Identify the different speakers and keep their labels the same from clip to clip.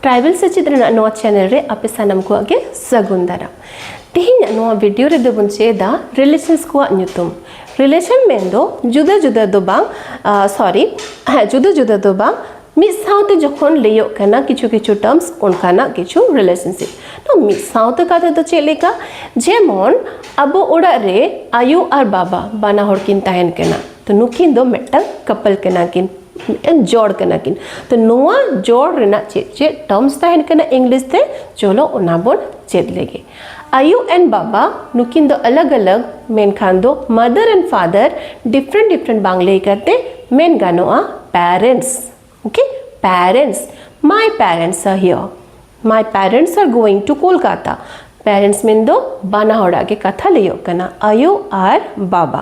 Speaker 1: tribal ᱥᱮᱪᱮᱫ ᱨᱮᱱᱟᱜ ᱱᱚᱣᱟ ᱪᱮᱱᱮᱞ ᱨᱮ ᱟᱯᱮ ᱥᱟᱱᱟᱢ ᱠᱚᱣᱟᱜ ᱜᱮ ᱥᱟᱹᱜᱩᱱ ᱫᱟᱨᱟᱢ ᱛᱮᱦᱮᱧᱟᱜ ᱱᱚᱣᱟ ᱵᱷᱤᱰᱤᱭᱳ ᱨᱮᱫᱚ ᱵᱚᱱ ᱪᱮᱫᱟ ᱨᱤᱞᱮᱥᱚᱱᱥ ᱠᱚᱣᱟᱜ ᱧᱩᱛᱩᱢ ᱨᱤᱞᱮᱥᱚᱱ ᱢᱮᱱᱫᱚ ᱡᱩᱫᱟᱹ ᱡᱩᱫᱟᱹ ᱫᱚ ᱵᱟᱝ ᱥᱚᱨᱤ ᱦᱮᱸ ᱡᱩᱫᱟᱹ ᱡᱩᱫᱟᱹ ᱫᱚ ᱵᱟᱝ ᱢᱤᱫ ᱥᱟᱶᱛᱮ ᱡᱚᱠᱷᱚᱱ ᱞᱟᱹᱭᱚᱜ ᱠᱟᱱᱟ ᱠᱤᱪᱷᱩ ᱠᱤᱪᱷᱩ ᱴᱟর্মস ᱚᱱᱠᱟᱱᱟᱜ ᱠᱤᱪᱷᱩ ᱨᱤᱞᱮᱥᱚᱱᱥᱤᱯ ᱛᱚ ᱢᱤᱫ ᱥᱟᱶᱛᱮ ᱠᱟᱛᱷᱟ ᱫᱚ ᱪᱮᱫ ᱞᱮᱠᱟ ᱡᱮᱢᱚᱱ ᱟᱵᱚ ᱚᱲᱟᱜ ᱨᱮ ᱟᱭᱳ ᱟᱨ ᱵᱟᱵᱟ ᱵᱟᱱᱟ ᱦᱚᱲ ᱠᱤᱱ ᱛᱟᱦᱮᱱ ᱠᱟᱱᱟ ᱛᱚ ᱱᱩᱠᱤᱱ ᱫᱚ ᱢᱤᱫᱴᱟᱝ ᱠᱟᱯᱚᱞ ᱠᱟᱱᱟ ᱠᱤᱱ ᱢᱤᱫᱴᱟᱝ ᱡᱚᱲ ᱠᱟᱱᱟ ᱠᱤᱱ ᱛᱚ ᱱᱚᱣᱟ ᱡᱚᱲ ᱨᱮᱱᱟᱜ ᱪᱮᱫ ᱪᱮᱫ ᱴᱟᱨᱢᱥ ᱛᱟᱦᱮᱱ ᱠᱟᱱᱟ ᱤᱝᱞᱤᱥ ᱛᱮ ᱪᱚᱞᱚ ᱚᱱᱟ ᱵᱚᱱ ᱪᱮᱫ ᱞᱮᱜᱮ ᱟᱭᱳ ᱮᱱᱰ ᱵᱟᱵᱟ ᱱᱩᱠᱤᱱ ᱫᱚ ᱟᱞᱟᱜᱽ ᱟᱞᱟᱜᱽ ᱢᱮᱱᱠᱷᱟᱱ ᱫᱚ mother and father different different ᱵᱟᱝ ᱞᱟᱹᱭ ᱠᱟᱛᱮ ᱢᱮᱱ ᱜᱟᱱᱚᱜᱼᱟ parents okay parents my parents are here my parents are going to Kolkata parents ᱢᱮᱱ ᱫᱚ ᱵᱟᱱᱟ ᱦᱚᱲᱟᱜ ᱜᱮ ᱠᱟᱛᱷᱟ ᱞᱟᱹᱭᱚᱜ ᱠᱟᱱᱟ ᱟᱭᱳ ᱟᱨ ᱵᱟᱵᱟ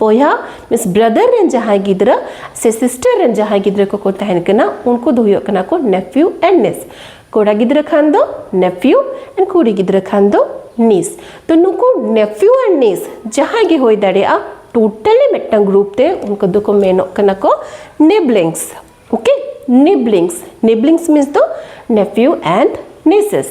Speaker 1: ᱵᱚᱭᱦᱟ ᱢᱤᱱᱥ ᱵᱨᱟᱫᱟᱨ ᱨᱮᱱ ᱡᱟᱦᱟᱸᱭ ᱜᱤᱫᱽᱨᱟᱹ ᱥᱮ ᱥᱤᱥᱴᱟᱨ ᱨᱮᱱ ᱡᱟᱦᱟᱸᱭ ᱜᱤᱫᱽᱨᱟᱹ ᱠᱚᱠᱚ ᱛᱟᱦᱮᱱ ᱠᱟᱱᱟ ᱩᱱᱠᱩ ᱫᱚ ᱦᱩᱭᱩᱜ ᱠᱟᱱᱟ ᱠᱚ ᱱᱮᱯᱷᱤᱭᱩ ᱮᱱᱰ ᱱᱤᱥ ᱠᱚᱲᱟ ᱜᱤᱫᱽᱨᱟᱹ ᱠᱷᱟᱱ ᱫᱚ ᱱᱮᱯᱷᱤᱭᱩ ᱮᱱᱰ ᱠᱩᱲᱤ ᱜᱤᱫᱽᱨᱟᱹ ᱠᱷᱟᱱ ᱫᱚ ᱱᱤᱥ ᱛᱚ ᱱᱩᱠᱩ ᱱᱮᱯᱷᱤᱭᱩ ᱮᱱᱰ ᱱᱤᱥ ᱡᱟᱦᱟᱸᱭ ᱜᱮ ᱦᱩᱭ ᱫᱟᱲᱮᱭᱟᱜᱼᱟ ᱴᱳᱴᱟᱞᱤ ᱢᱤᱫᱴᱟᱝ ᱜᱨᱩᱯ ᱛᱮ ᱩᱱᱠᱩ ᱫᱚᱠᱚ ᱢᱮᱱᱚᱜ ᱠᱟᱱᱟ ᱠᱚ siblings okay siblings siblings means ᱫᱚ ᱱᱮᱯᱷᱤᱭᱩ ᱮᱱᱰ ᱱᱤᱥᱮᱥ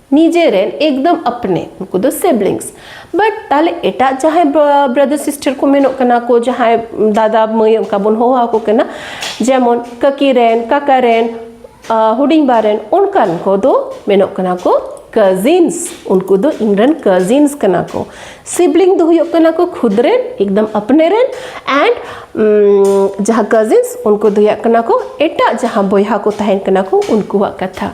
Speaker 1: ᱱᱤᱡᱮ ᱨᱮᱱ ᱮᱠᱫᱚᱢ ᱟᱯᱱᱮ ᱩᱱᱠᱩ ᱫᱚ ᱥᱤᱵᱞᱤᱝᱥ ᱵᱟᱴ ᱛᱟᱦᱞᱮ ᱮᱴᱟᱜ ᱡᱟᱦᱟᱸᱭ ᱵᱨᱟᱫᱟᱨ ᱥᱤᱥᱴᱟᱨ ᱠᱚ ᱢᱮᱱᱚᱜ ᱠᱟᱱᱟ ᱠᱚ ᱡᱟᱦᱟᱸᱭ ᱫᱟᱫᱟ ᱢᱟᱹᱭ ᱚᱱᱠᱟ ᱵᱚᱱ ᱦᱚᱦᱚ ᱟᱠᱚ ᱠᱟᱱᱟ ᱡᱮᱢᱚᱱ ᱠᱟᱹᱠᱤ ᱨᱮᱱ ᱠᱟᱠᱟ ᱨᱮᱱ ᱦᱩᱰᱤᱧ ᱵᱟ ᱨᱮᱱ ᱚᱱᱠᱟᱱ ᱠᱚᱫᱚ ᱢᱮᱱᱚᱜ ᱠᱟᱱᱟ ᱠᱚ ᱠᱟᱡᱤᱱᱥ ᱩᱱᱠᱩ ᱫᱚ ᱤᱧ ᱨᱮᱱ ᱠᱟᱡᱤᱱᱥ ᱠᱟᱱᱟ ᱠᱚ ᱥᱤᱵᱞᱤᱝ ᱫᱚ ᱦᱩᱭᱩᱜ ᱠᱟᱱᱟ ᱠᱚ ᱠᱷᱩᱫ ᱨᱮᱱ ᱮᱠᱫᱚᱢ ᱟᱯᱱᱮ ᱨᱮᱱ ᱮᱱᱰ ᱡᱟᱦᱟᱸ ᱠᱟᱡᱤᱱᱥ ᱩᱱᱠᱩ ᱫᱚ ᱦᱩᱭᱩᱜ ᱠᱟᱱᱟ ᱠᱚ ᱮᱴᱟᱜ ᱡᱟᱦᱟᱸ ᱵᱚᱭᱦᱟ ᱠᱚ ᱛᱟᱦᱮᱱ ᱠᱟᱱᱟ ᱠᱚ ᱩᱱᱠᱩᱣᱟᱜ ᱠᱟᱛᱷᱟ